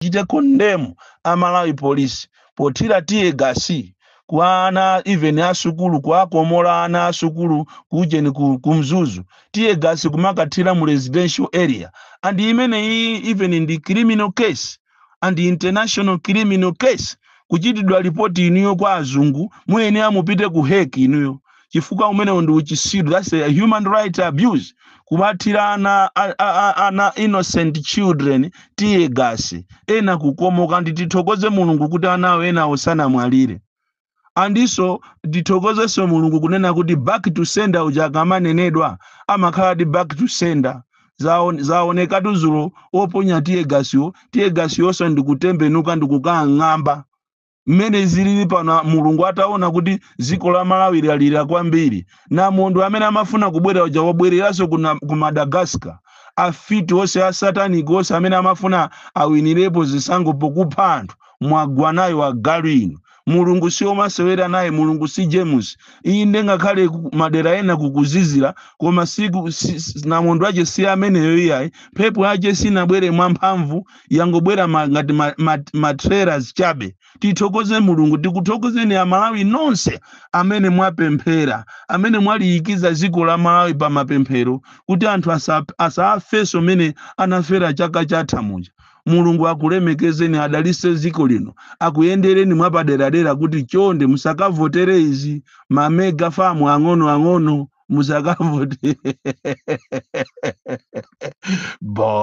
tichite condemn a Malawi Police pothira tear gas kwa ana even a sukulu kuwakomola ana a sukulu kujeni ku, ku Mzuzu tear gas kumakathira mu residential area and imeneyi even ndi criminal case and international criminal case kuchitidwa lipoti inuyo kwa azungu muyenera mupite ku Hague inuyo chifukwa umenewo ndi uchisiru that's a human rights abuse kumathira ana a- a- a- ana innocent children tiye gasi ena kukomoka ndi tithokoze mulungu kuti anawo enawo sanamwalire andiso tithokozenso mulungu kunena kuti back to sender uja akamanenedwa amakhaladi back to sender Zaon- zaonekatu zulo oponya tiye gasiwo tiye gasiyonso ndikutembenuka ndikukang'amba mmene zilili pano a- mulungu ataona kuti dziko la Malawi lalira kwambiri namondwe amene amafuna kubwera uja wabwereranso ku na- ku Madagascar afiti onse asatanic onse amene amafuna awinirepo zisankho pokupha anthu mwagwa nayo agalu inu mulungu si omasewera naye mulungu si James iyi ngakhale ku- madera ena kukuzizira koma siku si, si, namondwe yache si ameneyo iyayi mphepo yache sinabwere mwamphamvu yangobwera ma, ngati ma, ma, ma trailers chabe tithokoze mulungu tikuthokozeni aMalawi nonse amene mwapemphera amene mwaliyikiza dziko la Malawi pa mapemphero kuti anthu asa- asafenso mene anafera chaka chatha muja mulungu akulemekezeni adalise dziko lino akuyendereni mwapaderadera kuti chonde musakavotere izi mamega famu ang'ono ang'ono musakavotere bo